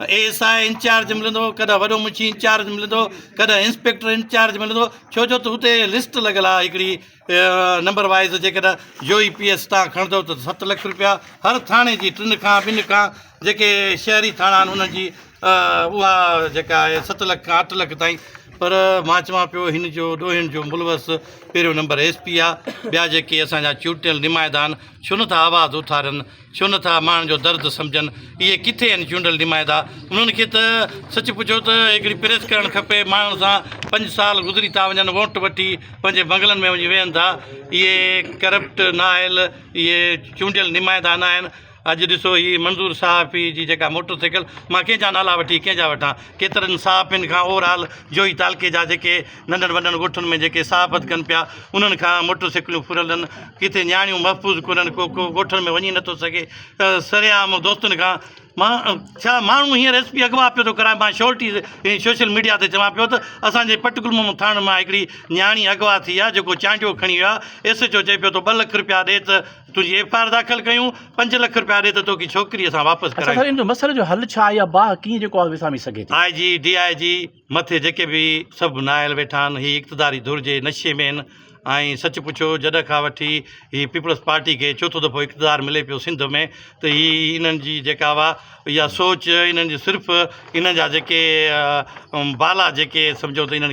A S I incharge ملندو ڪڏهن وڏو منشي انچارج ملندو ڪڏهن انسپيڪٽر انچارج ملندو ڇو جو ته اتي لسٽ لڳل آهي هڪڙي نمبر وائز جيڪڏهن يو اي پي ايس تان کڻندو ته ست لک روپيا هر ٿاڻي جي ٽن کان ٻن کان جيڪي شهري ٿاڻا آهن انهن جي اها جيڪا آهي ست لک کان اٺ لک تائين پر مان چوان پيو هن جو ڏوهين جو ملوث پهريون نمبر ايس پي آ ٻيا جيڪي اسان جا چونڊيل نمائندا آهن ڇو نٿا آواز اٿارين ڇو نه ٿا ماڻهن جو درد سمجهن. اهي ڪٿي آهن چونڊيل نمائندا. انهن کي ته سچ پڇو ته هڪڙي پريس ڪرڻ کپي. ماڻهن سان پنج سال گذري ٿا وڃن ووٽ وٺي پنهنجي بنگلن ۾ وڃي ويهن ٿا. اهي ڪرپٽ نااهل اهي چونڊيل نمائندا ناهن. اڄ ڏسو هي منظور صحافي جي جيڪا موٽر سائيڪل مان ڪنهن جا نالا وٺي ڪنهن جا وٺان. ڪيترن صحافين کان اوور آل جوئي تعلقي جا جيڪي ننڍن وڏن ڳوٺن ۾ جيڪي صحافت ڪن پيا، انهن کان موٽر سيڪلون ڦرلن، ڪٿي نياڻيون محفوظ ڪونهن، ڪو ڪو ڳوٺن ۾ وڃي نٿو سگهي ته سرعام دوستن کان مان ڇا ماڻهو هينئر ايس پي اغوا پيو ٿو ڪرائي، مان شورٽي ۽ سوشل ميڊيا تي چوان پيو ته اسان جي پٽڪلمون ٿاڻن مان هڪڙي نياڻي اغوا ٿي آهي، جيڪو چانڊيو کڻي ويو آهي، ايس ايڇ او چئي پيو تو ٻه لک رپيا ڏي ته تنهنجي ايف آر داخل ڪيون، پنج لک رپيا ڏي ته توکي ڇوڪري اسان واپس ڪرايون. اچا سر ان جو مسئلي جو حل ڇا آهي يا باهه ڪيئن جيڪو آهي وسامي سگهي ٿي؟ آء جي، ڊي آء جي. مٿي جيڪي به سڀ نااهل ويٺا آهن هي اقتداري ڌر جي نشي ۾ آهن ۽ سچ پڇو جڏهن کان وٺي هي پيپلز پارٽي کي چوٿون دفعو اقتدار ملي پيو سنڌ ۾ ته هي انهن جي جيڪا اها اها سوچ انهن جي صرف انهن جا جيڪي بالا جيڪي سمجهو ته انهن